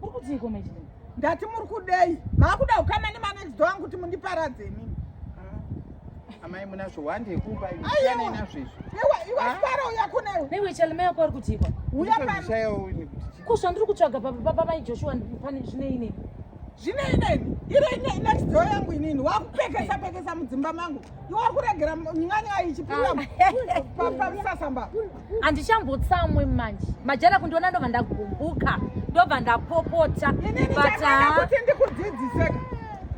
Muri kutii ko mechidini? Ndati muri kudei? Makuda kukama ne manext door angu kuti mundiparadze imimi. Ah. Amai muna zvowande yekuba imi. Siyana ina zvezvo. Ewa iwa ah. fara uya kune. Newe chalme yako ari kuti kwa. Uya pa. Zvishaya uyu kuti. Ko zvandiri kutsvaga baba baba mai Joshua pane zvine ine. Zvine ine. Iro ine next door yangu inini. Wakupekesa pekesa mudzimba mangu. Iwa kuregera nyanya ichipinda. Ah. Papa msasamba. handichambotsamwe manje majara kundiona ndobva ndagumbuka ndobva ndapopota butkuti ndikudzidziseka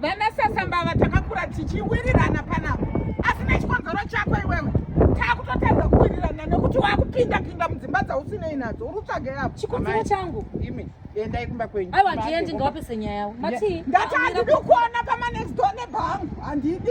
vana sasambava takakura tichiwirirana panapa asi nechikonzero chako iwewe takutotadza kuwirirana nekuti wakupinda pinda mudzimba dzausinei nadzo uri kutsvage yapo chikonzero changu imi endai kumba kwenyu aiwa ndiendi ngawapese nyaya yavo matii ndati handidi kuona pamanext door nebhangu handidi